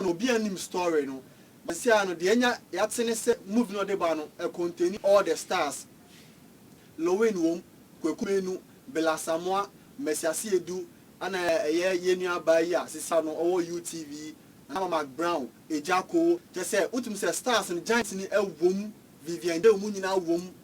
no obi annim story no bɛsi ara no deɛ anya yɛate ne sɛ movie no a ɔde ba no ɛcontaini all the stars Lowin wom, Kweku Menu, Bill Asamoah, Mercy Asiedu ɛna ɛyɛ yɛn nua abaa yi a sisi ano ɔwɔ UTV Nama Mac Brown, Ejakoo kyerɛ sɛ wotumi sɛ stars no giants no ɛwom, Vivian Day wɔn nyinaa wom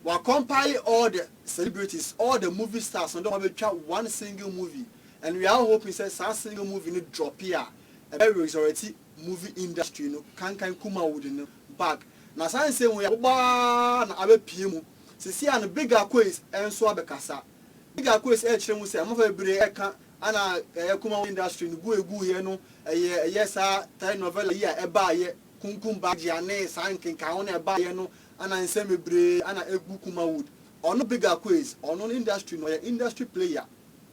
Wɔacompile all the celebrities, all the movie stars no de wɔn abɛtwa one single movie and we are all hoping sɛ saa single movie no drope a. Ɛbɛ resurreti movie industry no kankan Kuma Wood no back na saa nsɛm wei abobɔ aa na abɛ pie mu sesei a no Big Akoes nso abɛ kasa Big Akoes ɛɛkyerɛ mu sɛ amafra bebree ɛɛka ana ɛyɛ Kuma Wood industry no gu egu yɛ no ɛyɛ ɛyɛ saa telenovela yi a ɛbaa yɛ Kunkum Bajia ne saa nkenkaho no ɛbaa yɛ no ana nsɛm bebree ana egu Kuma Wood ɔno Big Akoes ɔno no industry no ɔyɛ industry player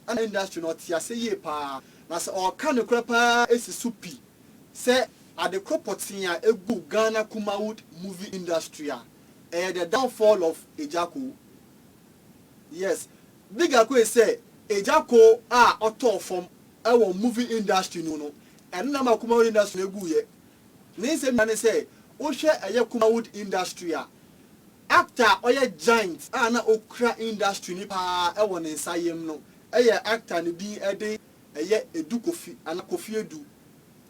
na industry no ɔte ase yie paa na sɛ ɔɔka nokorɛ paa esi so pi sɛ ade koro pɔtee a eguu Ghana Kumawood movie industry a ɛyɛ the downfall of Ejakoo yes big ako is sɛ Ejakoo a ɔtɔɔ fam ɛwɔ movie industry no mu no ɛno na ɛma Kumawood industry no eguuiɛ ne nsɛm nyinaa ne sɛ wohwɛ ɛyɛ Kumawood industry a Actor a ɔyɛ giant a na okura industry no paa wɔ ne nsa yam no yɛ actor a ne din de ɛyɛ Edu Kofi anaa Kofi Edu.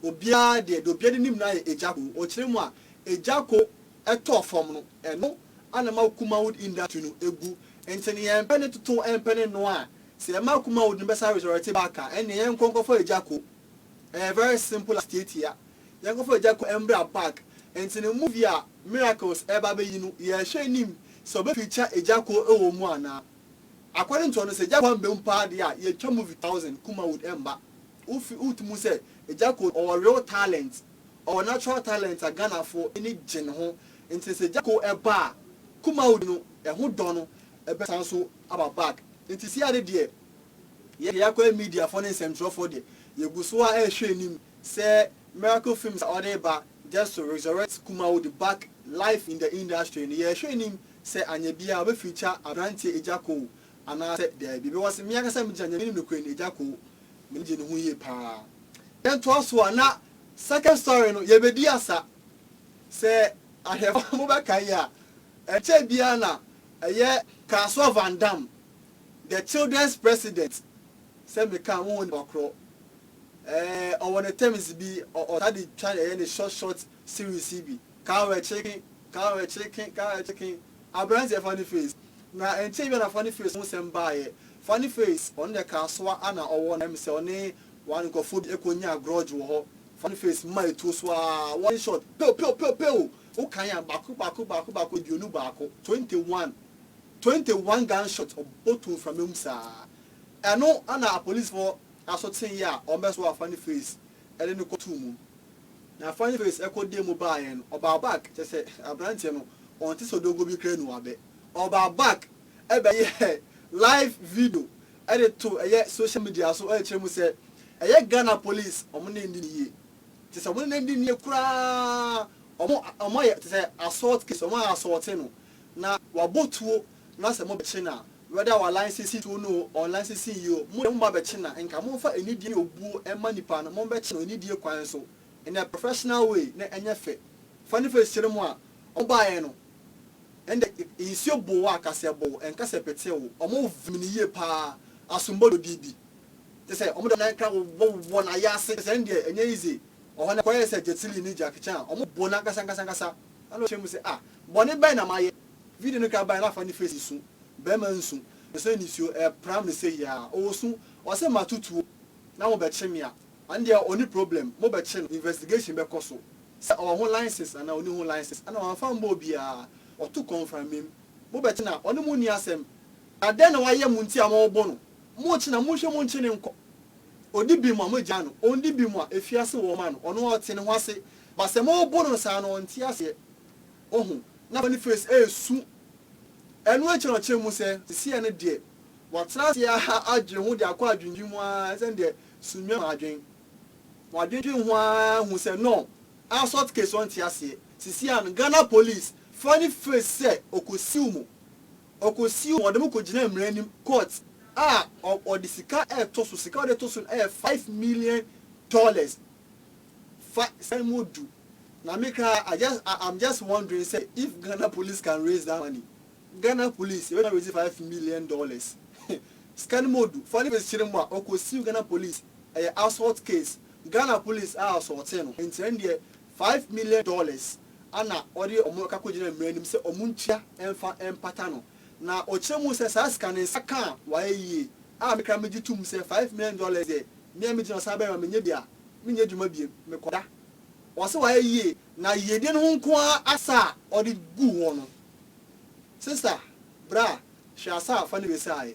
Obiara deɛ deɛ obiara de nim no ara yɛ Ejaco. Ɔkyerɛ mu a Ejaco tɔɔ fam no ɛno ara na ɛma Kumawood industry no gu. Nti no yɛmpɛ ne toto ɛmpɛ ne noa a sɛ yɛma Kumawood no bɛsan resurrect back a ɛnneɛ yɛnkɔ nkɔfa Ejaco. Ɛyɛ very simple as tiatia. Yɛnkɔfa Ejaco mmra back. Nti no movie a Miracles reba abɛyi no, yɛrehwɛ anim sɛ ɔbɛfi kyɛ Agya Kwan wɔ mu anaa. According to ɔno, sɛ Agya Kwan bɛm paa deɛ a, yɛtwa movie thousand Kuma would ɛmba. Wofi wote mu sɛ Agya Kwan ɔwɔ real talent, ɔwɔ natural talent a Ghanafoɔ ani gye ne ho, nti sɛ Agya Kwan ɛba a, Kuma would no ɛho dɔ no ɛbɛsan nso aba back. Nti seya no deɛ, yɛ deɛ yɛakɔ yɛ mediafoɔ ne nsɛmtwerɛfoɔ deɛ, yɛgu so a ɛrehwɛ anim sɛ Miracle Films a ɔde reba Just to resurrect Kumawudi back life in the industry no, yɛrehwɛ anim sɛ anyɛ biara ɔbɛ feature aberanteɛ Ejakoo anaasɛ daabi because me ankasa megyina nea menim nokorɛ ni Ejakoo m'ani gye ne ho yie paa. Yɛntoa so a na second story no yɛbɛdi asa. Sɛ ahwɛfoɔ mobɛkae a ɛnkyɛɛ biara na ɛyɛ Kasoa Van Damme The children's president sɛ meka wo ho nipa korɔ ɛɛ ɔwɔ ne terms bi ɔ ɔtaa de twa ɛyɛ ne short short series yi bi kaa wɛ kyeken kaa wɛ kyeken kaa wɛ kyeken abranteɛ funny face na ɛnkyɛɛ bi a na funny face ho sɛm baayɛ funny face ɔno deɛ kaasoa ana ɔwɔ na ɛm sɛ ɔne wa nkorɔfoɔ bi ɛkɔ nyaa grudge wɔ hɔ funny face ma ɛtuo so aa one short pew pew pew pew wo kan a baako baako baako baako aduonu baako twenty one Twenty one gun shot ɔbɔ too mframa mu saa. Ɛno na apolisfoɔ aso teeɛ a wɔbɛsoo Afani Face de no kɔtoo mu. Na Afani Face kɔ dee mu baeɛ no, ɔbaa back, kyerɛ sɛ aberanteɛ no ɔnte sɛ odongo bi koraa nu abɛ. Ɔbaa back bɛyɛɛ live video de too ɛyɛ social media so kyerɛ mu sɛ ɛyɛ Ghana police wɔn ne nni no yie. Kyerɛ sɛ wɔn ne no nni no yie koraa, wɔayɛ te sɛ assault case, wɔayɛ assault no. na wabɔ tuo na sɛ mobɛkye no a, whether our line sisi tuo no o, ɔn line sisi nyi o, mo deɛ mo ba bɛkye no a, nka momfa anidie ne obuo mma nipa no, mombɛkye no anidie kwan so in a professional way na ɛnyɛ fɛ. Fa ne face kyerɛ mo a, wɔn baeɛ no, ɛnde nsuo boo wo a, ka sɛ ɛboo wo, ɛnka sɛ ɛpetee wo, wɔn vim no yie paa, asombo dodie bi, te sɛ wɔn de wɔn nan kra wɔ wɔ n'ayase, te sɛ ɛndeɛ ɛnyɛ easy, ɔhɔ no ɛkɔyɛɛ sɛ Jet Li ne Jackie Chan, wɔn boo no ankasa ankasa ankasa. Ɛnna ɔteɛm sɛ, Ah! Bɔne bɛn na mayɛ? Video no ka bae na fa ne face su. Barima nsu, nsu ne nisuo, ɛrepram no seyi ara. Ɔresu. Ɔse, Mato tuo na mobɛkye me a, ɔno deɛ ɔnni problem. Mobɛkye no, investigation bɛkɔ so sɛ ɔwɔ ho license anaa ɔnni ho license. Ɛnna wamfa ammɔ obiara. Ɔto kɔmframim. Mobɛkye no a, ɔne mo nni asɛm. Na dɛn na wayɛ mo nti a mobo no? Mokye no a, monhwɛ monkye no nkɔ. Ɔdi bem a, mogyaa no. Ɔnndi bem a, ɛfiri ase wɔma no. Ɔno ara ɔte ne ho ase But sɛ mo bo no saa no ɔnte aseɛ wahu na Boniface ɛresu ɛno akyi na ɔkyerɛ mu sɛ seseɛ no deɛ watena aseɛ ara adwene ho de akɔ adwendwen mu ara ɛsiane deɛ Sunnwuma ma adwen wadwendwen ho ara ahu sɛ no assault case ɔnte aseɛ seseɛ and Ghana police fa ne face sɛ ɔkɔsiw mo ɔkɔsiw mo ɔde mo kɔgyinaa mmara anim court a ɔde sika ɛretɔ so sika ɔde to so no ɛyɛ five million dollars Fa sɛn mu du. Na me koraa I just I am just wondering sɛ if Ghana police can raise that money Ghana police yɛbɛtumi raise five million dollars sika no mu odu fa nipa kyerɛ mu a ɔkɔ sue Ghana police ɛyɛ assault case Ghana police a assaultee no nti ɛno deɛ five million dollars ana ɔde ɔmo ɛka kɔ gyina mmara anim sɛ ɔmo ntua ɛmfa ɛmpata no na ɔkyerɛ mu sɛ saa sika no nsa ka a wayɛ yie a me koraa megye tum sɛ five million dollars deɛ Nea me gyina so ara bɛma menya bi a menyɛ adwuma bio, mekɔda. Ɔse wayɛ yie na yiedie no ho nko ara asa a ɔde guu hɔ no. Sister, bra, hwɛ asa a fa ne wese aye.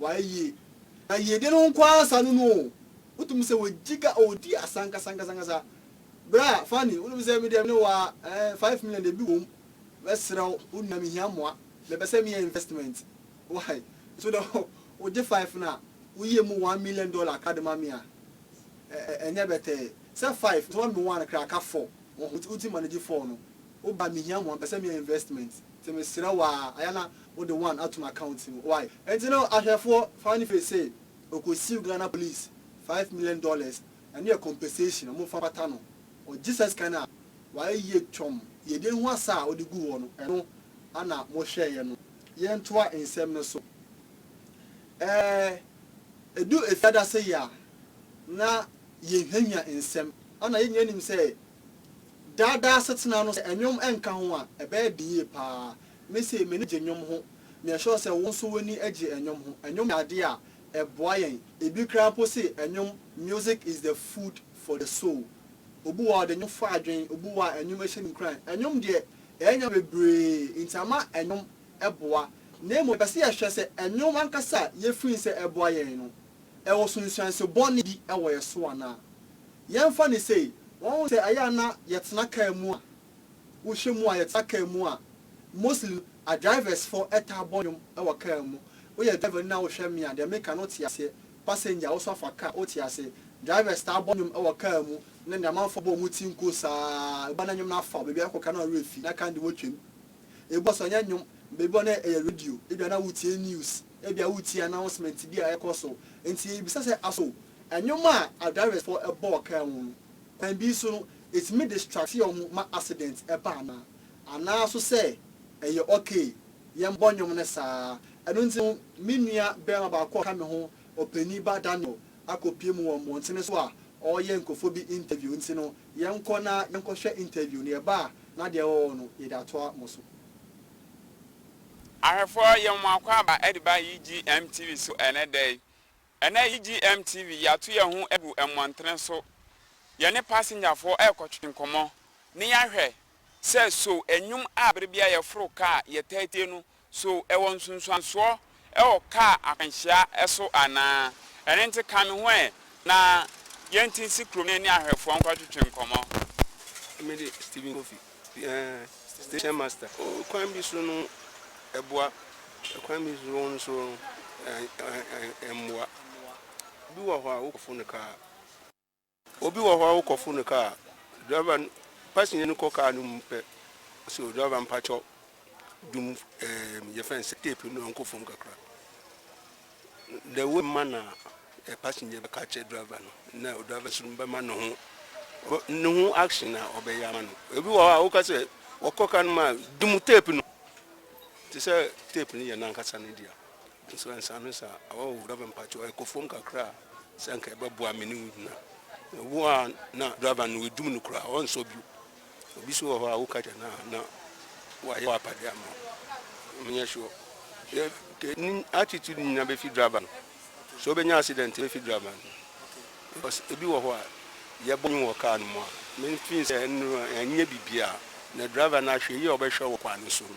Wayɛ yie. Na yiedie no nko ara saa no nu o. Wotumi sɛ wɔ Jiga o ɔdi asa ankasa ankasa ankasa. Bra Fanny wonim sɛ me deɛ me ne wo ara eh, five million deɛ bi wɔ mu. Mɛsrɛ wo wo nua me hia mmoa. Me pɛ sɛ me yɛ investment. Why? So deɛ wo gye five no a wo yɛ mu one million dollar ka de ma me a ɛ ɛ ɛnyɛ bɛtɛɛ. Sɛ five nso ma me one koraa ka four. Wo ho wo ti manage four no. Wo ba mehia ho a mpɛ sɛ meyɛ investment nti mesrɛ wo aa ayɛ na wode one ato m account mu why nti no ahwɛfoɔ fa no firi se ɔkɔ siw Ghana police five million dollars ɛno yɛ compensation ɔmo fa pata no ɔgye saa sika no a wayɛ yie twɔmm yɛdie ho asa a ɔde gu hɔ no ɛno ana mo hwɛeɛ no yɛntoa nsɛm no so ɛɛ ɛdu efiadase yi a na yɛnhwiahwia nsɛm ana yɛn nyinaa nim sɛ Daa daa asetena no, sɛ nnwom nka ho a, ɛbɛyɛ den yie pa ara. Me sei, m'ani gye nnwom ho. Me are sure sɛ wo nso w'ani gye nnwom ho. Nnwom yɛ adeɛ a, ɛboa yɛn. Ebi koraa mpo se nnwom, music is the food for the soul. Obi wɔ hɔ a, ɔde nnwom fa adwene, obi wɔ hɔ a, nnwom hyɛ no nkuran. Nnwom deɛ, ɛyɛ nneɛma bebree nti, ama nnwom boa. Na mmom, yɛpɛ sɛ yɛhwɛ sɛ nnwom ankasa a yɛfiri nsɛ boa yɛn no. ɛwɔ sunsuanso bɔne bi wɔ yɛn so anaa? Yɛmfa no sei, Wahu sɛ ɛyɛ a na yɛtena kaa mu a, wohwɛ mu a, yɛtena kaa mu a, mostly no, adriversfoɔ taa bɔ nnwom wɔ kaa mu. Woyɛ driver ni na wohwɛ me a, deɛ meka no wote aseɛ. Passenger, wo nso afa kaa, wote aseɛ. Drivers taa bɔ nnwom wɔ kaa mu, na deɛ amanfoɔ bɔ wɔn ti nko saa ara. Ebi wɔ hɔ a na nnwom no afa wo, baabi a wokɔ koraa na wo werɛ fi, na kaa no de wotwam. Ebi wɔ hɔ nso a, ɛnyɛ nnwom, baabi wɔ hɔ na ɛyɛ radio, ebia na woretie news. Ebia woretie announcement bi a ɛrekɔ so, enti yebisa sɛ, So nnwom a adriversfo bɔɔ kaa mu no, kwan bi so no, etumi distracte yɛn ho ma accident ba anaa? Anaa nso sɛ, Ɛyɛ ok, yɛmmɔ nnwom no saa ara. Ɛno nti no, me nua barima baako a ɔka me ho, ɔpanyin ba Daniel, akopue mu wɔ mmɔntene so a ɔreyɛ nkurɔfo bi interview nti no, yɛnkɔ na yɛnkɔhwɛ interview no. Yɛba a, na deɛ ɛwɔ hɔ no, yɛde atoa mo so. Ahwɛfoɔ yɛ wɔn akwaaba de ba UGM TV so ɛnnɛ da yi. Ɛnnɛ UGM TV yɛato yɛn ho agu mmɔntene so, yɛne pasengyafoɔ rekɔtwe nkɔmmɔ ne yɛahwɛ sɛ so nnwom a berɛ biara yɛforo kaa yɛtaa tie no, so ɛwɔ nsunsuansoɔ wɔ kaa akwanhyia so anaa. Ɛno nti ka me ho ɛ na yɛnte nsi kurom na yɛne ahwɛfoɔ nkɔtwetwe nkɔmmɔ. Me de Stephen Kofi, station master. Kwan bi so no ɛboa, kwan bi so no nso ɛmmoa. Bi wɔ hɔ a wokɔfo no kaa. Obi wɔ hɔ a wokɔforo no kaa a, driver no, passenger no kɔ kaa no mu pɛ, ɔse o driver mpakyɛw dum ɛɛm yɛfrɛ no sɛ tape no nkɔ fam kakra. The way ma na ɛ passenger bɛka akyerɛ driver no na o driver nso bɛma ne ho ne ho action a ɔbɛyɛ ama no. Obi wɔ hɔ a woka sɛ wɔkɔ kaa no mu a dum tape no te sɛ tape no yɛ n'ankasa ne dea. Nso ansa no sa awa o driver mpakyɛw ɛkɔ fam kakra a sɛ anka ɛbɛboa me ne wo nyina ɛwɔ a na driver no ɛdum no koraa ɔnsɔ bio obi so wɔ hɔ a woka kyɛ no a na wayɛ wapade ama wo menyɛ sure yɛ ne attitude nyina bɛfi driver no sɛ wobɛnya accident bɛfi driver no because ebi wɔ hɔ a yɛbɔ nyi wɔ car no mu a menfin sɛ ɛno ɛnyɛ biribiaa na driver no ahwɛ yi a ɔbɛhwɛ wɔ kwan no so no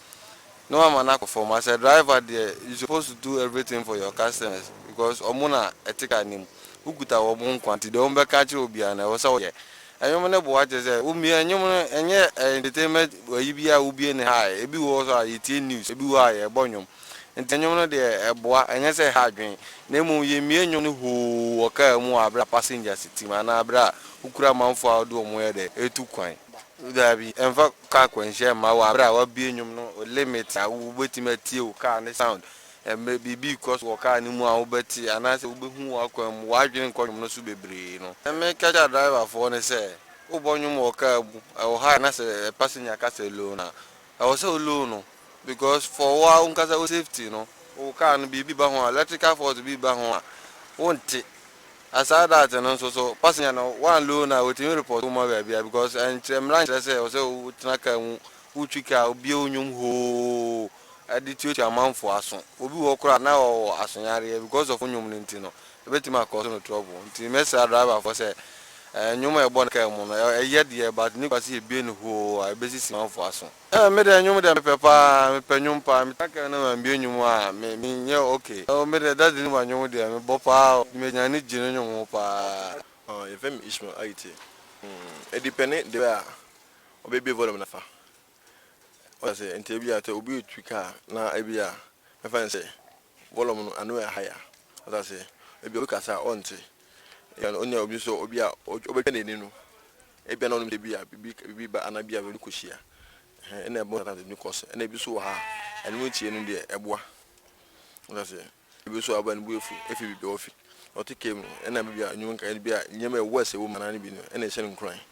na wama no akɔ fam. As a driver deɛ you supposed to do everything for your customers because wɔn na ɛte car no mu. Wokuta wɔn nkoa nti deɛ wɔbɛka akyerɛ wo biara no ɛwɔ sɛ woyɛ. Nnwom no boa kyerɛ sɛ womie nnwom no ɛnyɛ entertainment ayi bi a wobie no high. Ebi wɔ hɔ nso a yɛtie news, ebi wɔ hɔ a yɛbɔ nnwom. Nti nnwom no deɛ ɛboa ɛnyɛ sɛ ɛha adwene na mmom yɛmie nnwom no hoo wɔ car mu wɔ aberɛ a passengers te mu anaa aberɛ a wokura amanfoɔ a wode wɔn yɛ dɛ retu kwan. Dabi, ɛmfa car akwanhyia mma wo aberɛ a wabue nnwom no limit a wobɛtumi atie wo car ne sound. Ɛmmerɛ biribi rekɔ so wɔ car no mu a wobɛte anaasɛ wobɛhu wɔ akwan mu, w'adwene nkɔ nnwom no so bebree no. Deɛ meka kyɛ driverfoɔ ne sɛ, wobɔ nnwom wɔ car mu, ɛwɔ ha a na sɛ passenger ka sɛ low no a, Ɛwɔ sɛ wo low no because for woa wonkasa wo safety no wo car no biribi ba ho a electrical fault bi ba ho a wo nte aside that no nso so passenger no woan low no a wɔtumi report wo ma baabia because ɛnkyerɛ mmara nkyerɛ sɛ ɛwɔ sɛ wo tena car mu wo twi car wobie wo nwom hoo de tuatua amanfoɔ aso obi wɔ hɔ koraa na ɔwɔ asoyareɛ because of wo nwom no nti no Ebetumi akɔ so no trouble nti mɛsra driver foɔ sɛ nnwom a yɛbɔ no car mu no ɛyɛ deɛ but ne kwa sɛ yɛbue no hoo a ɛbɛsi si manfoɔ aso. Eh me deɛ nnwom deɛ mepɛ paa mepɛ nnwom paa me tra car no mambue nnwom a me me nyɛ ok oh me deɛ daddy Numa nnwom deɛ me bɔ paa oh me nya ani gye ne nnwom ho paa. Ɔɔ yɛfrɛ me Ishmael ayi te mm edipɛne deɛ a ɔbɛbue volume no afa wate aseɛ nti ebia sɛ obi retu car na ebia mɛfa no sɛ. Volume no ano yɛ higher. Wate aseɛ? Ebi a obi kasa a ɔnte. Ebia no onyaa obi nso a obi a ɔbɛtwa n'ani no, ebia na ɔnim sɛ bi a biribi biribi reba anaa bi a baabi kɔhyia. Ɛhɛn, ɛna ɛbɔ sometimes ɛtumi kɔ so. Ɛna ebi nso wɔ ha a, ɛno mu tie no deɛ ɛboa. Wate aseɛ? Ebi nso a ɔba no bo afu afi baabi a ɔfi. Ɔte car mu no, ɛna baabi a nnwom nka bi a nneɛma a ɛwɔ worse wɔ mu anaa ne bi no, ɛna ɛhyɛ no nkuran.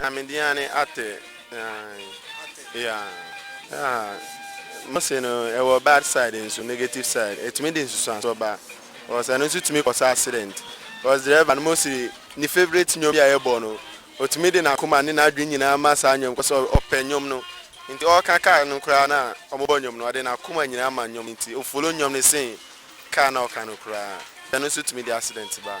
Na me din ane Ate ae yeah. Ah Mose no ɛwɔ bad side nso negative side ɛtumi de nsusuansoɔ ba cause ɛno nso tumi kɔsɛ accident cause driver no Mose ne favourite nnwom bi a yɛbɔ no ɔtumi de n'akoma ne n'adwene nyinaa ma saa nnwom cause ɔpɛ nnwom no nti ɔreka car no koraa na wɔbɔ nnwom no ɔde n'akoma nyinaa ma nnwom no nti ɔfollow nnwom no sen car na ɔka no koraa ɛno nso tumi de accident ba.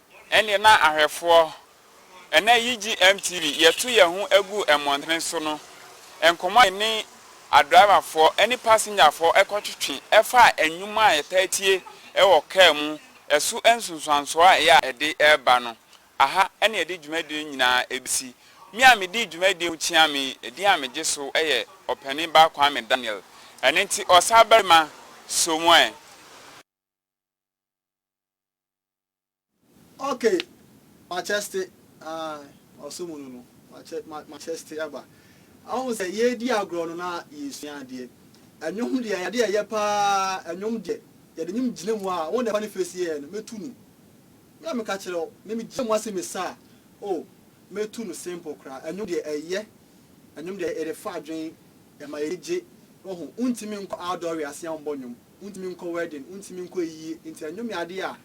Ɛnneɛ na ahwɛfoɔ, ɛnnɛ yigye MTV, yɛto yɛn ho gu mmɔntene so no, nkɔmmɔ a yɛne adriverfoɔ ne pasengyafoɔ kɔtwetwe faa nnwom a yɛtaa tie wɔ kaa mu so nsunsuansoɔ a ɛyɛ a ɛde ba no. Aha na yɛde dwumadie no nyinaa bɛsi. Me a medi dwumadie ho kyeame yi, edin a megye so yɛ Ɔpanin Ba Kwame Daniel. Ɛno nti, Ɔsabarima, Somoe. Ok Macheste aah ɔso mu no no Macheste aba Ɔhu sɛ yɛredi agorɔ no na yɛresua adeɛ Ɛnwom deɛ ɛyɛ adeɛ a ɛyɛ paa Ɛnwom deɛ yɛde nwom gyina mu a Wo na Funny Face yɛɛ no Mɛtu no Me a meka kyerɛ wo Me megyina mu ase mesa a Oh mɛtu no simple koraa Ɛnwom deɛ ɛyɛ Ɛnwom deɛ ɛde fa adwene Ɛma yɛn ani gye Wohu wontumi nkɔ outdoor wiase a wommɔ nwom wontumi nkɔ wedding, wontumi nkɔ ayiyie, nti ɛnnwom yɛ adeɛ a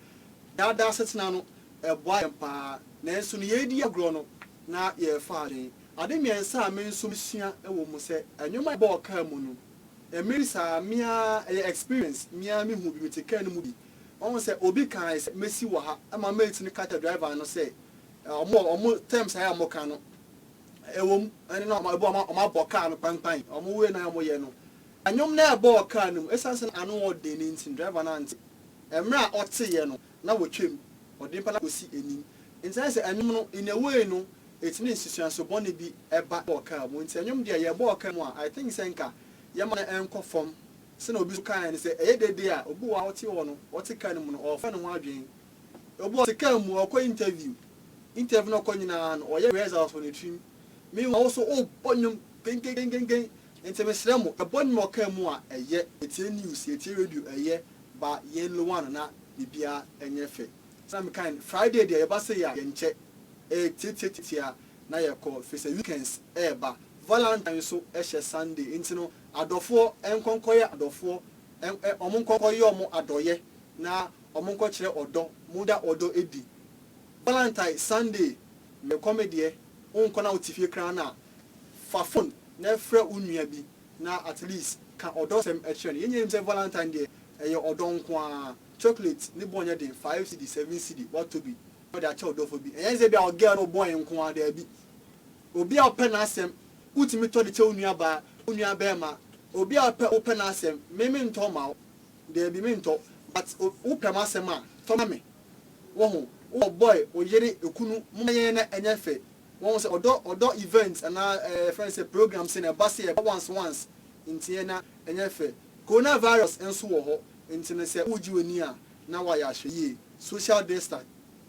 daadaa asetena no, ɛboa yɛn pa ara. Nanso no yɛredi agorɔ no, na yɛrefa adwene. Ade mmiɛnsa a me nso mesua wɔ mu sɛ, ɛnwom a yɛbɔ wɔ kaa mu no, ɛmmeri saa, me ara, ɛyɛ experience, me ara mehu bi, mete kaa no mu bi, mahu sɛ obi kaae sɛ mɛsi wɔ ha, ɛma mate no ka kyerɛ driver no sɛ wɔn wɔn terms a wɔka no, ɛwɔ mu, ɛne na ɛbɔ wɔn abɔ kaa no kpankpan, wɔn wei na wɔyɛ no, Nnwom no rebɔɔ kar no mu. Esiane sɛ na ano wɔ den no nti, driver no ante. Mmere a ɔteeɛ no, na wɔtwam. Ɔde mpa no akɔsi anim. Enti ayɛ sɛ nnwom no, in a way no, ɛtumi de nsusuanso bɔne bi ba wɔ kar mu. Enti nnwom deɛ, yɛbɔɔ kar mu a, I think sɛ nka yɛmma no nkɔ fam. Sɛnea obi nso kaeɛ no, sɛ ɛyɛ dede a, obi wɔ hɔ a ɔte hɔ no, ɔte kar no mu no, ɔrefa ne ho adwene. Obi wɔ hɔ a, ɔte kar mu, ɔrekɔ interview. Interview no a ɔkɔ nyinaa no, ɔyɛ rehearsals wɔ ne tirim. Meanwhile, wo nso, worebɔ nnwom, kenkenkenkenken, Nti mesrɛ mo ɛbɔ nwuma ɔkaa mu a ɛyɛ, ɛtie news, ɛtie radio ɛyɛ, ba yɛn lowa no na biribiara nyɛ fɛ. Sɛdeɛ mekae no Friday deɛ yɛba sei a yɛnkyɛ, ɛtiatiatiatia na yɛkɔ firisɛ weekends ɛɛba, valentine nso hyɛ Sunday nti no adɔfoɔ nkɔ nkɔyɛ adɔfoɔ, wɔn nkɔ nkɔyɛ wɔn adɔyɛ na wɔn nkɔ kyerɛ ɔdɔ, mo da ɔdɔ ɛdi, valentine Sunday mekɔ medeɛ, wonkɔ na wote fie koraa no a. Fa fon na frɛ wo nua bi na at least ka ɔdɔ sɛm kyerɛ no. Yɛn nyinaa nim sɛ valentine deɛ ɛyɛ ɔdɔ nko ara. Chocolate ne bɔ nyɛ den, five cedi, seven cedi, watɔ bi na ɔde akyɛ ɔdɔfo bi. Ɛnyɛ sɛ bi a wɔ girl no wo boy nko ara, daabi. Obi a wopɛ n'asɛm, wotumi tɔ de kyɛ wo nua baa, wo nua barima. Obi a wopɛ wopɛ n'asɛm, me me ntɔ mma wo, daabi me ntɔ, but wo pɛ m'asɛm a, tɔ ma me. Woahu? Wowɔ boy, wo yere, okunu, momma yɛn na ɛnyɛ fɛ, Wahu sɛ ɔdɔ ɔdɔ events anaa ɛɛ yɛfrɛ no sɛ programs no a ɛba sɛ ɛba once once nti ɛ na ɛnyɛ fɛ. Corona virus nso wɔ hɔ nti no sɛ woregye w'ani a na wayɛ ahwɛyie. Social distan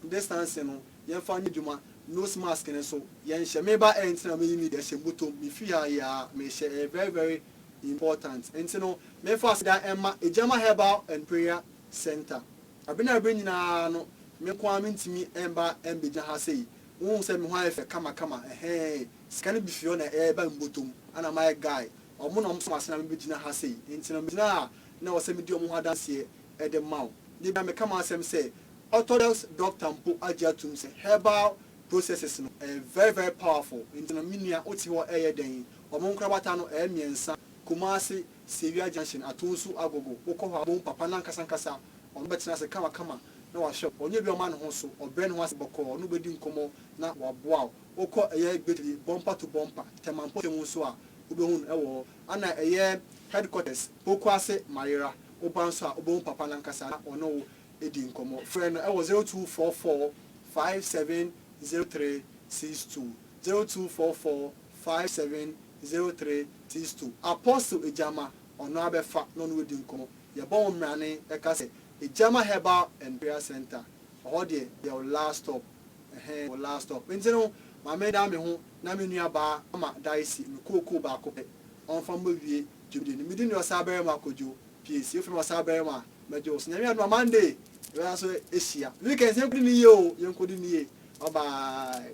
distancing no yɛmfa nyɛ adwuma, nose mask no nso yɛnhyɛ. Me ba ɛ nti na meyi me deɛ hyɛ bɔtɔm mefiri ha yɛ a mehyɛ ɛyɛ very very important nti no memfa aseda mma Agyama Herbal and Prayer Centre. Bere ne bere nyinaa no me nko ara mentumi mma ɛmmɛgyina ha sei Wohu sɛ me ho ayɛ fɛ kama kama ɛhɛɛɛe sika no bi fi hɔ na ɛɛba me bɔtɔm ana mayɛ guy ɔmo na ɔmo soma se na me bɛgyina ha sei nti no me gyina a na ɛwɔ sɛ me di ɔmo ho adanseɛ ɛde ma wo da biara me ka m'asɛm sɛ orthodox doctor mpo agye atum sɛ herbal processes no ɛyɛ very very powerful nti no me nua wote hɔ ɛɛyɛ dɛn ɔmo nkorabata no ɛyɛ mmiɛnsa Kumasi Sewia junction Atonsu Agogo wokɔ hɔ a wobɛhu papa no ankasa ankasa Ɔno bɛtena ase kamakama na wahwɛ wo. Ɔnyɛ obi a ɔma ne ho so, ɔbrɛ ne ho ase bɔkɔɔ. Ɔne wo bedi nkɔmmɔ na waboa wo. Wokɔ ɛyɛ Gbediri, bɔmpa to bɔmpa, Tema mpɔtam nso a, wubehu no wɔ hɔ. Ana ɛyɛ headquarters, Pokuase, Mayera, woba nso a, wubehu papa no ankasa na ɔne wo adi nkɔmmɔ. Frɛ no wɔ zero two four four, five seven zero three six two, zero two four four, five seven zero three six two. Apostle Egyama, ɔno ara bɛfa na ɔne wo adi nkɔmmɔ. Yɛbɔ wo mmrane ka sɛ Egyama Herbal and Prayer Centre ɔhɔ deɛ yɛ wo last stop ɛhɛn wo last stop nti no ma me da me ho na me nua baa ama Daisy me kookoo baako pɛ ɔnfa mmɔ wie dwumadi no me din de Ɔsaabarima Kojo Piesie wofrɛ me Ɔsaabarima a mɛgye wo so Nyame adom a Monday yɛbɛsan so ahyia weekends yɛnkɔdi no yie oo yɛnkɔdi no yie bye bye.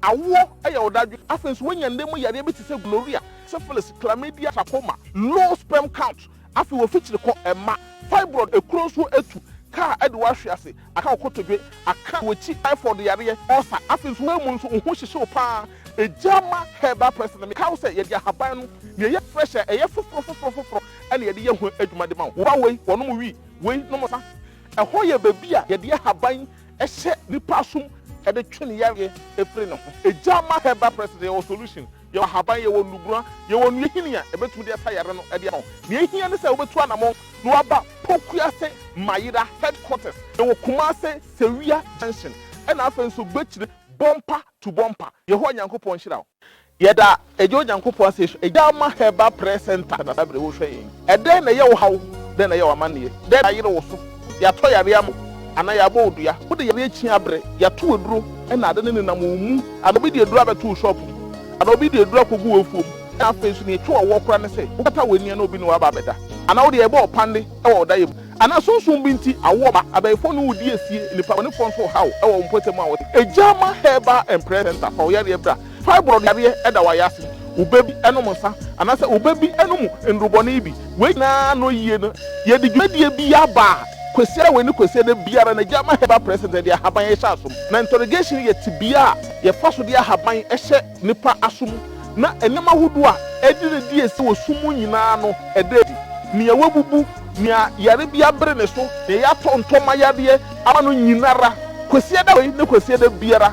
Awoɔ yɛ ɔdadwen. Afei nso woanya nna mu yareɛ bi te sɛ gloria, syphilis, chlamydia, trachoma, low sperm count, afei wofikyiri kɔ mma, fibroid, ekuro nsuo atu, kaa de wo ahwe ase, aka wo kotodwe, aka w'akyi, typhoid yareɛ, ulcer, afei nso woamu nso wo ho hyehye wo pa ara. Egyama herbal press no mekae wo sɛ yɛde ahaban no na ɛyɛ fresh a ɛyɛ foforo foforo foforo na yɛde yɛ ho adwuma de ma wo. Wo ba wei, wɔnom wii, wei, nom nsa. Ɛhɔ yɛ baabi a yɛde ahaban Ɛhyɛ nipa som de twe ne yareɛ firi ne ho. Egya ma herbal present, yɛwɔ solution, yɛwɔ ahaban, yɛwɔ nnubura, yɛwɔ nnua hini a ɛbɛtumi de asa yare no de ama wo. Nea ɛhia ne sɛ wobɛtu anamɔn na woaba Pokuase Mayera headquarters. Yɛwɔ Kumase, Sewia junction ɛna afei nso Gbekyire, Bompa to Bompa. Yehowa Nyankopɔn nhyira wo. Yɛda Agya Onyankopɔn ase sɛ Agya ama Herbal Prayer Centre na saa bere wohwɛ yɛn. Ɛdɛn na ɛyɛ wo haw? Dɛn na ɛyɛ wo amanneɛ? Dɛn na ayere wo so? Yɛatɔ yare ama wo anaa yɛabɔ wo dua? Wode yare akyi abrɛ? Yɛato aduro na ade no nenam wo mu anaa obi de aduro abɛto wo shop mu anaa obi de aduro akɔgu w'afuom na afei nso nea ɛtwe w'awoɔ koraa ne sɛ wokata w'ani a na obi ne wo aba abɛda anaa wode ɛrebɔ wo panne wɔ wo daeɛ mu anaa sunsum bi nti awoɔ ba abayifoɔ ne wo redi asie, nnipa bɔnefoɔ nso rehaw wɔ wo mpɔtam a wɔte Agya ama Herbal and Prayer Centre fa wo yareɛ bra Fibroid yareɛ da wɔ ayase, wo ba bi nom nsa, anaasɛ wo ba bi nom nnuru bɔne bi. Wei nyinaa ano yie no, yɛde dwumadie bi aba a, Kwasiada wei ne Kwasiada biara no, Gyama Herbal Presents de ahaban hyɛ asom. Na interrogation yɛ tebea a yɛfa so de ahaban hyɛ nnipa asom, na nneɛma ahodoɔ a ɛde ne di asi wɔ sum mu nyinaa no, ɛda adi. Nea wɔabubu, nea yare bi abere ne so, nea yɛatɔ ntɔmma yadeɛ ama no nyinara, Kwasiada wei ne Kwasiada biara,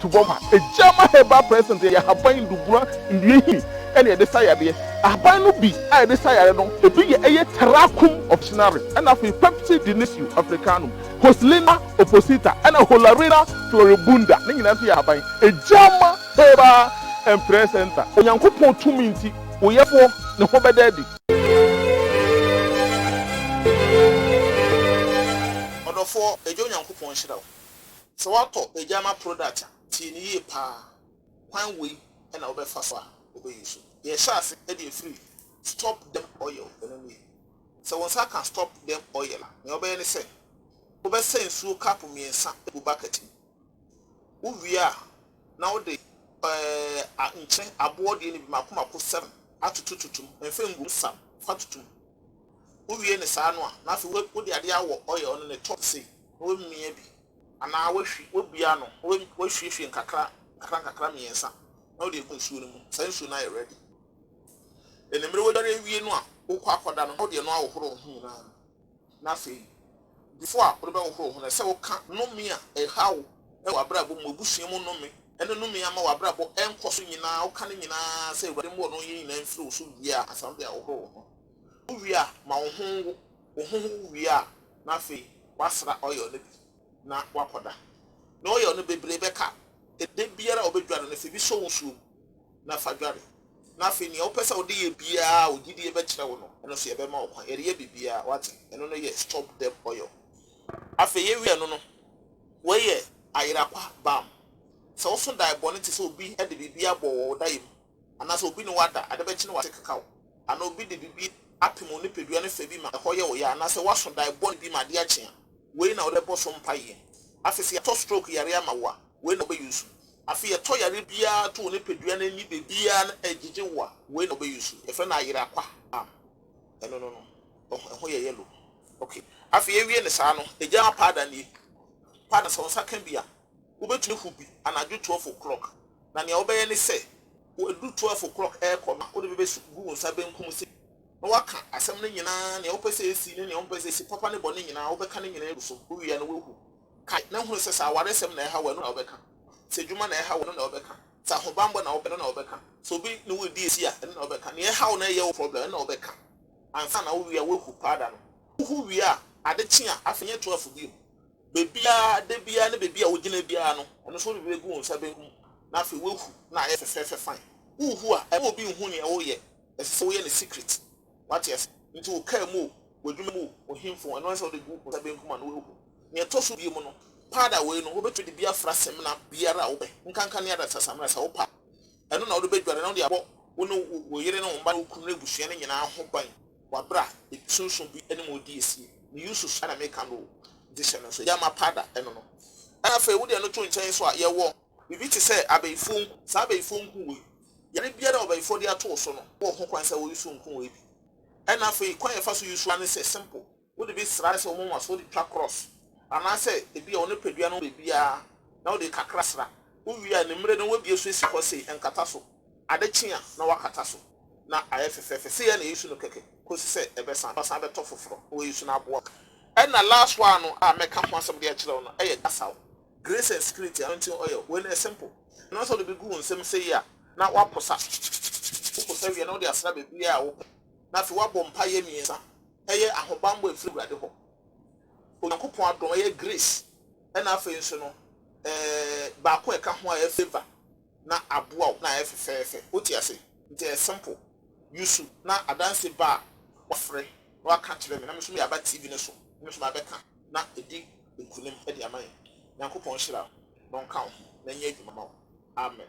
to bɔ ma. Egyama herbal present yɛ ahaban ndubura nnua nhini na yɛde sa yadeɛ. Ahaban no bi a yɛde sa yare no ebi yɛ ɛyɛ Tarracum officinare ɛna afei Pepsi Dionisio Africanum, Hoslina opposita ɛna Holarina floribunda ne nyinaa nso yɛ ahaban. Egyama herbal and prayer center Onyankopɔn tumi nti wo yɛfoɔ ne ho bɛda adi. Ɔdɔfoɔ, Agya Onyankopɔn nhyira wo. Sɛ woatɔ Agyama product a, tie no yie paa. Kwan wei na wobɛfa so a wobɛ use. Deɛ ɛhyɛ ase de ɛfiri stop dem oil ɛno nie. Sɛ wo nsa ka stop dem oil a, nea wobɛyɛ ne sɛ, wobɛsa nsuo cup mmiɛnsa agu bucket mu. Wo wie a, na wode ɛɛ nkyene aboɔ deɛ no bi mako mako seven atoto toto mu. Mfa ngu mu, sa mu fa toto mu. Wowie no saa no a, na afei wo wode adeɛ awɔ oil no ne top sei na wamia bi anaa wahwi wabua no na wa wahwiehwie nkakra nkakra nkakra mmiɛnsa na wode agu nsuo no mu saa nsuo no ayɛ ready animere wadware awie no a wokɔ akɔda no na wode ɛno ahohoro wo ho nyinaa na afei before a wode bɛhohoro wo ho no ɛsɛ sɛ woka nnome a ɛha wo wɔ abrabɔ mu abusua mu nnome ɛne nnome ama w'abrabɔ ɛnkɔ so nyinaa woka ne nyinaa sɛ awurade mmɔ no yɛ nyinaa mfiri wo so wie a ansa wode ahohoro wo ho Wowie a, ma wo ho nwo. Wo ho wo wie a, na afei woasra oil no bi na woakɔda. Na oil no bebree bɛka a, ɛda biara a wobɛdware no, fa bi sɔ wo nsuo mu na fa dware. Na afei nea wopɛ sɛ wode yɛ biara a wo gyidie bɛkyerɛ wo no, ɛno nso yɛbɛma wo kwan. Yɛde yɛ biribiara, woate. Ɛno no yɛ stop death oil. Afei yɛwie ɛno no, wei yɛ ayera kwa balm. Sɛ woso dae bɔne te sɛ obi de biribi abɔ wɔ wo dae mu anaasɛ obi ne wo ada, ade bɛkye na wate keka wo, anaa obi de biribi apem wo nipadua no fã bi ma ɛhɔ yɛ wo ya, anaasɛ woaso dae bɔne bi ma adeɛ akye a, wei na wode bɔ so mpaeɛ. Afei sɛ yɛatɔ stroke yareɛ ama wo a, wei na wobɛ use. Afei yɛtɔ yareɛ biara to wo nipadua no ani baabiara na ɛgyegye wo a, wei na wobɛ use. Yɛfrɛ no ayera kwa balm. Ɛno no no, ɛho yɛ yellow. Ok, afei yɛwie no saa no, agya ma powder nie. Powder no sɛ wo nsa ka bi a, Wobɛtumi ahu bi anadwo twelve o'clock na nea wobɛyɛ ne sɛ, ɛduru twelve o'clock rekɔ no a, wode bi bɛsi gu wo nsa benkum so na woaka asɛm no nyinaa, nea wopɛ sɛ ɛsi ne nea wompɛ sɛ ɛsi, papa ne bɔne nyinaa, wobɛka ne nyinaa agu so. Wowie a na woahu. Kae, na hunu sɛ sɛ awaresɛm na ɛreha wo a, ɛno na wobɛka. Sɛ adwuma na ɛreha wo a, ɛno na wobɛka. Sɛ ahobammɔ na wopɛ a, ɛno na wobɛka. Sɛ obi ne wo redi asi a, ɛno na wobɛka. Nea ɛha wo na ɛyɛ wo problem, ɛno na wobɛka. Ansa na wowie a, woahu paada no. Wohu wie a, ade kye a, afei nyɛ twelve bio. Baabiara, da biara ne baabi a wogyina biara no, ɛno nso wode bɛgu wo nsa benkum, na afei woahu na ayɛ fɛfɛɛfɛ fann. Worehu a, ɛmma obi nhu nea woreyɛ, ɛsɛ sɛ woyɛ no secret. Woate ase? Enti wo kaa mu o, w'adwuma mu o, wo hemfam o, ɛno ɛsɛ sɛ wode gu wo nsa benkum a na woahu. Nea ɛtɔ so biom no, powder wei no, wobɛtumi de bi afra samina biara a wopɛ, nkanka ne adasa samina sɛ wopɛ a. Ɛno na wode bɛdware na wode abɔ wo ne wo yere ne wo mma ne wo kunu ne abusua no nyinaa ho ban. Wabra bibi sunsum bi ne mu di esie me usus na me ka no o nti hyɛ no nso yɛ ma pada ɛno no ɛna afei wo deɛ no to nkyɛn nso a yɛ wɔ bibi te sɛ abɛyifoɔ nku saa abɛyifoɔ nku wei yare biara a ɔbɛyifoɔ de ato wo so no wɔ ho kwan sɛ wɔ usu nku wei bi ɛna afei kwan a yɛ fa so usu ane sɛ simple wo de bi sra sɛ wo moma so wo de twa cross anaa sɛ ebi a wo ne padua no bɛ biara na wo de kakra sra wo wie a ne mmere no wɔ bie so esi hɔ sei nkata so. Ade kye a, na wɔakata so, na ayɛ fɛfɛɛfɛ. Sei ara na yɛresu no kɛkɛ kɔsi sɛ ɛbɛsa, na wɔasan abɛtɔ foforɔ na wɔresu no aboa. Ɛna last one no a mɛka ho asɛm de akyerɛ wo no yɛ Gasaw, Grace and Spirit Anointing Oil. Wei no yɛ simple. Ɛno ara sɛ wode bɛgu wo nsam sei a, na woaposa. Woposa wie a, na wode asra baabiara a wopɛ, na afei woabɔ mpaeɛ mmiɛnsa. Ɛyɛ ahobammɔ a ɛfiri Awurade hɔ, Onyankopɔn adom, ɛyɛ grace, ɛna afei nso no, ɛɛ, baako a ɛka ho a ɛyɛ favour. na aboa wo na ayɛ fefɛɛfɛ. Wote ase? Nti ɛyɛ simple. Yusu na adanse ba a wafrɛ na waka akyerɛ me na me nso mede aba TV no so na me nso mabɛka na adi nkunim de ama yɛn. Nyankopɔn nhyira wo na ɔnka wo ho na ɛnyɛ adwuma ma wo. Amen.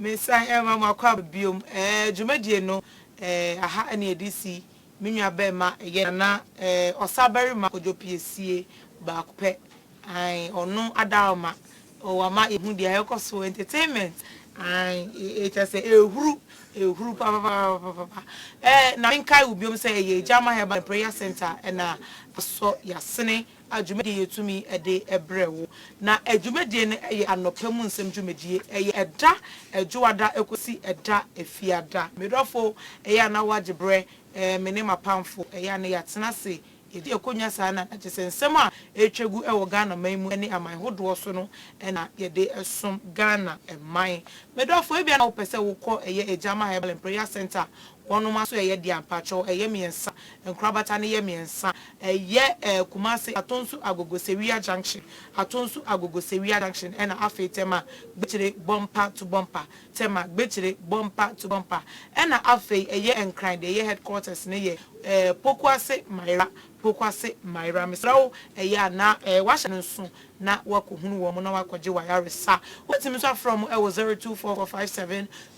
Mesan rema mo akwaaba biom eh, dwumadie no eh, aha na yɛde si, me nua bɛɛma ɛyɛ Nana eh, ɔsa barima Kojo Piesie baako pɛ ae, ɔno Adaoma oh, wama yɛhu deɛ ɛrekɔ so, entertainment ae, eh, kyerɛ sɛ ɛrehuru, ɛrehuru papapapapapa eh, na menkae wo biom sɛ ɛyɛ Agya Mahɛba Prayer Centre na asɔ yɛasene. a dwumadie yɛtumi de brɛ wo. Na dwumadie no yɛ anɔpa mu nsɛm dwumadie. Ɛyɛ ɛda Dwoada kɔsi ɛda Fiada. Medɔfo, ɛyɛ a na woagye berɛ, me ne m'apamfo, ɛyɛ a na yɛatena ase, yɛdi akonnwa saa na na kyesɛ nsɛm a ɛretwa gu wɔ Ghana man mu ne aman hodoɔ so no na yɛde som Ghana man. Medɔfo, ebia na wopɛ sɛ wokɔ ɛyɛ Agyama Herbal and Prayer Centre Bɔnoma nso ɛyɛ deɛ ampa, kyɛw ɛyɛ mmiɛnsa, nkorabata no yɛ mmiɛnsa, ɛyɛ ɛɛ Kumase, Atonsu, Agogo, Sewia junction, Atonsu, Agogo, Sewia junction ɛna afei Tema, Gbekyere, Bompa to Bompa, Tema, Gbekyere, Bompa to Bompa ɛna afei ɛyɛ Nkran deɛ ɛyɛ headquarters no yɛ ɛɛ Pokuase, Maira, Pokuase Myra, mesrɛ wo, ɛyɛ a na woahyɛ no nso na woakɔhunu wɔn na woakɔgye w'ayaresa. Wobɛtumi nso afrɛ wɔn wɔ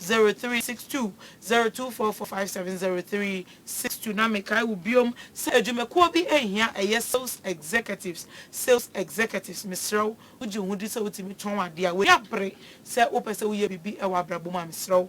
0244570362, 0244570362. Na mekae wo bio sɛ adwumakuo bi nhia ɛyɛ sales executives, sales executives, mesrɛ wo, wogye wo ho di sɛ wotumi tɔn adeɛ a, w'ani abere sɛ wopɛ sɛ woyɛ biribi wɔ abrabɔ mu a, mesrɛ wo,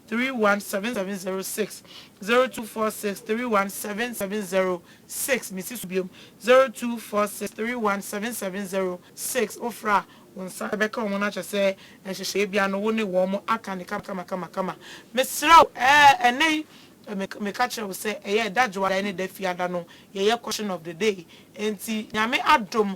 317706024631706 Mesi so biom 324631706 Wofrɛ a, wo nsa bɛka wɔn no akyerɛ sɛ nhyehyɛeɛ biara no wo ne wɔn aka no kamakamakama. Mesrɛ wo ɛɛ ɛnnɛ yi meka kyerɛ wo sɛ ɛyɛ ɛda dwoada ɛne ɛda fiada no yɛyɛ caution of the day enti Nyame adom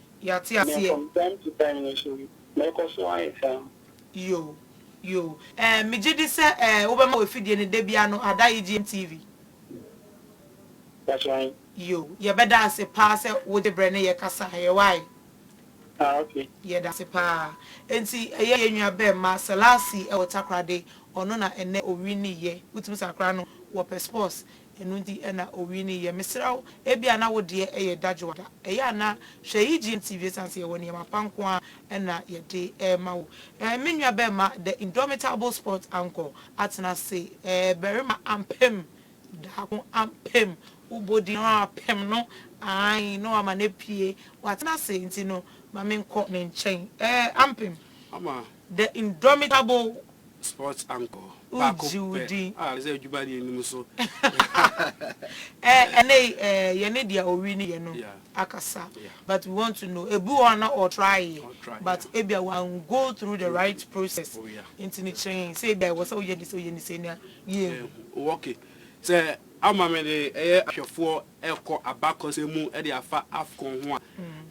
Yɛate aseɛ. From time to time no so mɛkɔ so ayɛ saa. Yoo yoo ɛɛ megye di sɛ ɛɛ wobɛma w'afidie no da biara no ada EGM TV. That's right. Yoo yɛbɛda ase paa sɛ wogye berɛ ne yɛ kasaeɛ wai. Ah okay. Yɛda ase paa. Enti ɛyɛ yɛn nua bɛɛma Selassie wɔ Takoradi ɔno na ɛnnɛ ɔwinnie. Wotumi sakra no wɔ Pɛspɔs Ɛno nti na owii no yɛ. Mesrɛ wo, ebia na wo deɛ yɛ dadwoa da. Ɛyɛ a na hwɛ EGN TV esiane sɛ yɛwɔ nneɛma pa nko ara na yɛde rema wo. Me nua barima The Indomitable Sports Anchor atena ase. Barima ampem, daako ampem, wo bɔ din no ara pem no, aane, na wama no apue. Watena ase nti no, ma menkɔ ne nkyɛn. Ampem, The Indomitable. Sports anchor baako pɛ a sɛ adwuma deɛ nim nso. Ɛɛ ɛnɛ yi ɛɛ yɛ ne deɛ owi ne yɛ no akasa but we want to know ebi wɔ hɔ a na ɔ try yɛ but ebia wan go through the right process nti no kyerɛ yɛn sɛ ebia ɛwɔ sɛ woyɛ ne sei woyɛ ne sei na yɛ nhu. Ok sɛ ama me de ɛyɛ ahwɛfoɔ ɛkɔ abakɔsɛm mu ɛde afa Afcon ho a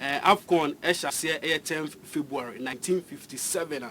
ɛɛ Afcon ɛhyɛ aseɛ ɛyɛ tenth February nineteen fifty seven a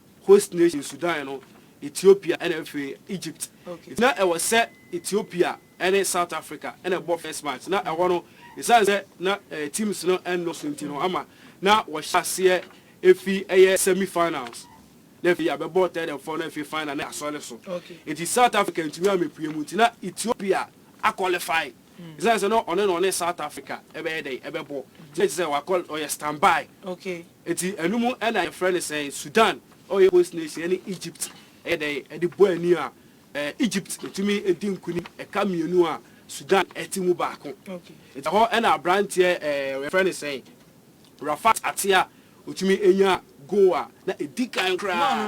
host nation, Sudan no, Ethiopia ɛna afei Egypt. Nti na ɛwɔ sɛ Ethiopia ɛne South Africa ɛna ɛbɔ first match. Na ɛhɔ no ɛsiane sɛ na teams no ɛnnɔso nti no ama na wɔhyɛ aseɛ ɛfi ɛyɛ semi finals na afei yɛabɛbɔ third and fourth na afei final na yɛasɔre so. Nti South Africa antumi ammɛpue mu nti na Ethiopia a qualify. Esiane sɛ na ɔne na ɔne South Africa bɛyɛ dɛn bɛbɔ, nti na kyerɛ sɛ wakɔ, ɔyɛ stand by. Nti ɛno mu na yɛfrɛ no sɛn? Sudan yɛ host nation ɛne Egypt yɛ dɛn de bɔ ani a, Egypt tumi di nkunim ɛka mmienu a Sudan te mu baako. Nti ɛhɔ na aberanteɛ yɛfrɛ no sɛn? Rafat Atea, ɔtumi nyaa goal a na ɛdi kan koraa.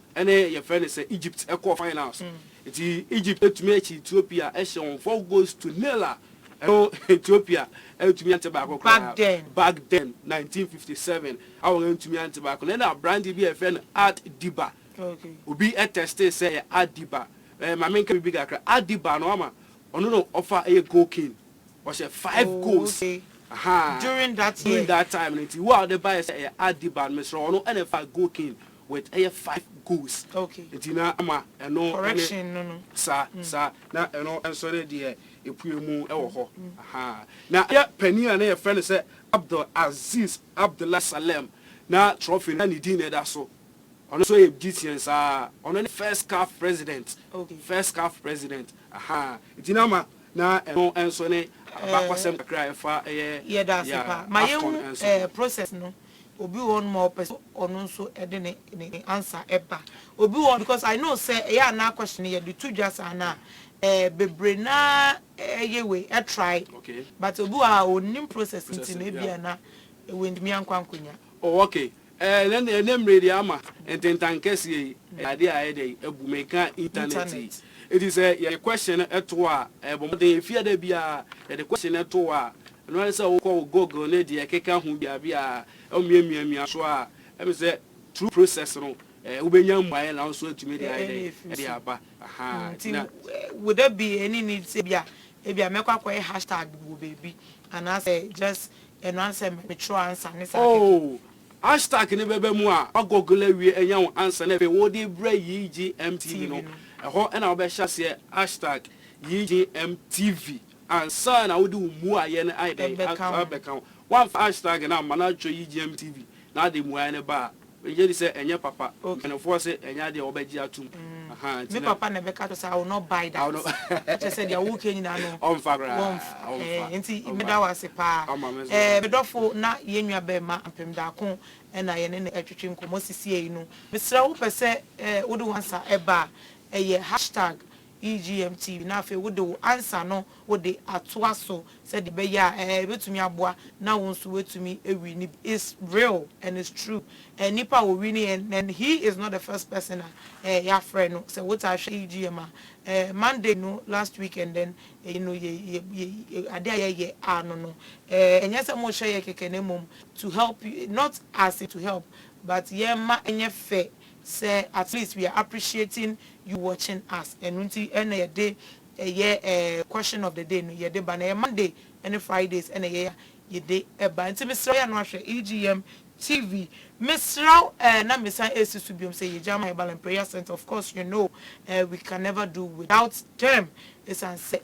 ɛne yɛfrɛ no sɛ Egypt kɔɔ finals nti Egypt atumi akyi Ethiopia ɛhyɛ wɔn four goals to nil a ɛno Ethiopia antumi ante baako koraa back then nineteen fifty seven a wɔn antumi ante baako na ɛna aberanteɛ bi a yɛfrɛ no Art Diba obi ɛtɛstee sɛ yɛ Art Diba ɛɛ maame nka biribi kakra Art Diba no ama ɔno no ɔfa ɛyɛ goal king ɔhyɛ five goals ahaa during that time no nti wo a ɔde baeɛ sɛ ɛyɛ Art Diba no mesrɛ ɔno ɛna ɛfa goal king with ɛyɛ five goals nti na ama ɛno ne saa saa na ɛno nso ne deɛ ɛpue mu wɔ hɔ ahaa na yɛ panin a na yɛfrɛ no sɛ Abdul Aziz Abdullah Salem na trophy no na ne din na ɛda so ɔno nso yɛ Egyptian saa ɔno ne first CAF president first CAF president ahaa nti na ama na ɛno nso ne abakɔsɛm kakra a ɛfa ɛyɛ yɛ Afcon nso. Obi wɔ hɔnom a ɔpɛ sɛ ɔno nso de ne ne ne answer ba. Obi wɔ hɔ because I know sɛ ɛyɛ a na question no yɛde to dwa saa no a eh bebree no ara yɛ wei eh try but obi wɔ hɔ a ɔnnim process nti no ebi a na wantumi ankɔ ankɔnya. Oh okay eh ɛnɛ ɛnɛ mmerɛ deɛ ama ntentan kɛseɛ yi ɛyɛ adeɛ a ayɛ dɛ abu meka internet yi nti sɛ yɛde question no to hɔ a eh bɔ mmɔden ɛfie a da biara yɛde question no to hɔ a Ɛno ara ne sɛ wokɔ wo Google ne deɛ ɛkeka ho biabiaa, na womiamiamia so a, ɛme sɛ through process no wobɛnya mmuaeɛ na wo nso atumi de ayɛ dɛn, de aba. Ahaa, nti na. Wo da bi ɛnni need sɛ ebia, ebia mɛkɔ akɔyɛ hashtag wɔ baabi, anaasɛ just ɛno ara ne sɛ metwerɛ answer ne saa kɛkɛ. Oh, hashtag no bɛba mu a, wo Google awie anya wo answer na afei wode brɛ YeeGyemTv no, ɛhɔ na wobɛhyɛ aseɛ hashtag YeeGyemTv. Ansa na wode wo mmuaeɛ no ayɛ dɛn ato abɛka ho. Woamfa hashtag no amma no atwerɛ UGM TV na wode mmuaeɛ no ba a, megye di sɛ ɛnyɛ papa. Mpanimfoɔ se ɛnyɛ adeɛ a wɔbɛgye atom. Me papa na ɛbɛka akyerɛ wo sɛ I will not buy that. Ɛkyerɛ sɛ deɛ woreka nyinaa no Ɔmfa koraa. wɔmfa. Nti meda wo ase pa ara. Ɔma me so Eh, me dɔfo, na yɛn nua bɛɛma Ampem Daako na yɛne no retwetwe nkɔmmɔ sisiei no. Mesrɛ wo, wopɛ sɛ eh, wode wo ansa ba a, ɛyɛ hashtag EGM TV na afei wode wo ansa no wode atoa so sɛdeɛ ɛbɛyɛ a ɛɛ ɛbɛtumi aboa na wo nso woatumi awini bi. It's real and it's true. Ɛɛ nipa a ɔwini ɛ nnɛ no he is not the first person a ɛɛ yɛafrɛ no. Sɛ wotaa hwɛ EGM a ɛɛ Monday no last week and then ɛyi no yɛ yɛ yɛ adeɛ a yɛyɛ a no no ɛɛ ɛnyɛ sɛ morehyɛ yɛ kɛkɛ na mmom to help you not as in to help but yɛmma ɛnyɛ fɛ sɛ at least we are appreciating you watching us ɛno nti na yɛde ɛyɛ question of the day no yɛde ba na ɛyɛ Monday ne Fridays na ɛyɛ a yɛde ba nti mesrɛ wo yɛ ano ahwɛ EGM TV mesrɛ wo na mesan ɛsi so biom sɛ yɛ gya ma yɛ Balaam Prayer Centre of course you know we can never do without them ɛsiane sɛ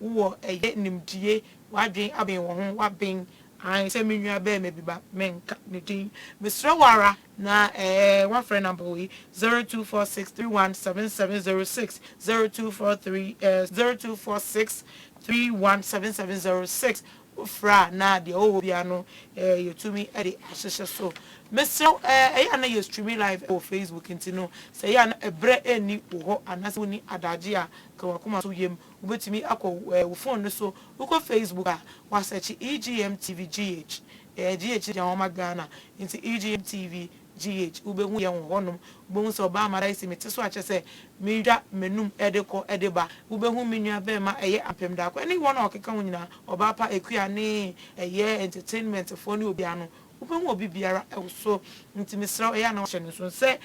wo wɔ ɛyɛ nimdie w'adwen aben wɔ ho w'aben ae sɛ me nua bɛɛma bi ba me nka ne din me srɛ wo ara na ɛɛ w'afrɛ number wei zero two four six three one seven seven zero six zero two four three ɛɛ zero two four six three one seven seven zero six wo frɛ a na deɛ ɔwɔ hɔ biara no ɛɛ yɛ tumi ɛde ahyehyɛ so me srɛ wo ɛɛ ɛyɛ a na yɛ streaming live ɛwɔ facebook nti no sɛ ɛyɛ a na ɛbrɛ ɛnni wo hɔ anaasɛ wonni adagye a ka w'akoma so yɛ mu Wobɛtumi akɔ wo fon no so, wokɔ Facebook a, woasɛkye EGM TV GH, ɛyɛ GH deɛ wɔma Ghana nti EGM TV GH, wobɛhu yɛn wɔ hɔnom. Wobɛhu sɛ ɔbaa Maraisi mete so a kyerɛ sɛ medwa m'anum de kɔ de ba. Wobɛhu me nua bɛɛma ɛyɛ Ampem Daako ɛne wɔn a wɔkeka ho nyinaa, ɔbaa pa Akua ne ɛyɛ entertainmentfoɔ ne obiara no, wobɛhu obi biara wɔ so. Nti mesrɛ wo, ɛyɛ a na woahyɛ no nso sɛ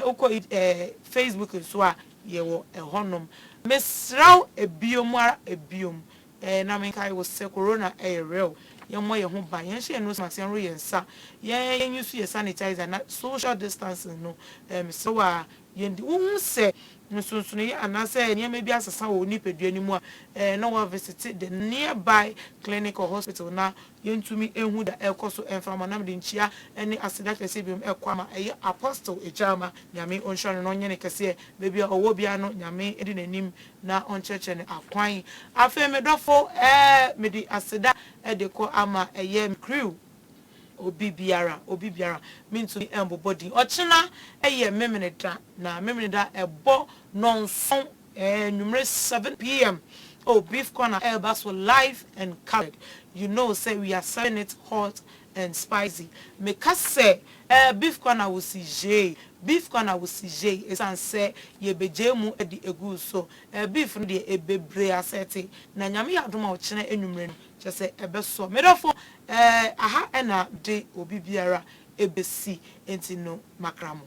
wokɔ Facebook nso a, yɛwɔ ɛhɔnom. Mesrɛ wo bio mu ara bio mu eh, na menkae wo sɛ Corona ɛyɛ real, yɛmmɔ yɛn ho ban, yɛnhyɛ yɛn nose mask, yɛnworo yɛn nsa, yɛn use yɛn sanitizer na social distancing no eh, mesrɛ wo ara yɛndi. Wo hu sɛ nsonsonoeɛ anaasɛ nneɛma bi asesa wɔ wo nipadua no mu a eh, na woa visite the nearby clinic or hospital na Yentumi nhu da ɛkɔ so mframa nam de nkyia ne aseda kɛseɛ binom ɛkɔ ama ɛyɛ Apostle Agyarma Nyame ɔnhyira no na ɔnyɛ no kɛseɛ baabi a ɔwɔ biara no Nyame ɛdi nanim na ɔnkyerɛkyerɛ no akwan afei me dɔfo ɛɛ mede aseda ɛde kɔ ama ɛyɛ me crew obi biara obi biara mentumi ɛmbobɔ din ɔkyena ɛyɛ Memeneda na Memeneda ɛbɔ nɔnson Anwumerɛ seven PM oh Beef Corner ɛreba so live and coloured you know sɛ we are serving it hot and spicy me ka sɛ eh Beef Corner wo si gyee Beef Corner wo si gyee ɛsiane sɛ yɛ bɛ gyee mu de agu wo so eh Beef no deɛ ɛbɛ bire asɛte na Nyame yɛ adom a ɔkyena anwumerɛ no kyɛ sɛ ɛbɛ sɔ me dɔfo eh aha ɛna de obi biara ɛbɛ si ɛnti no makra mo.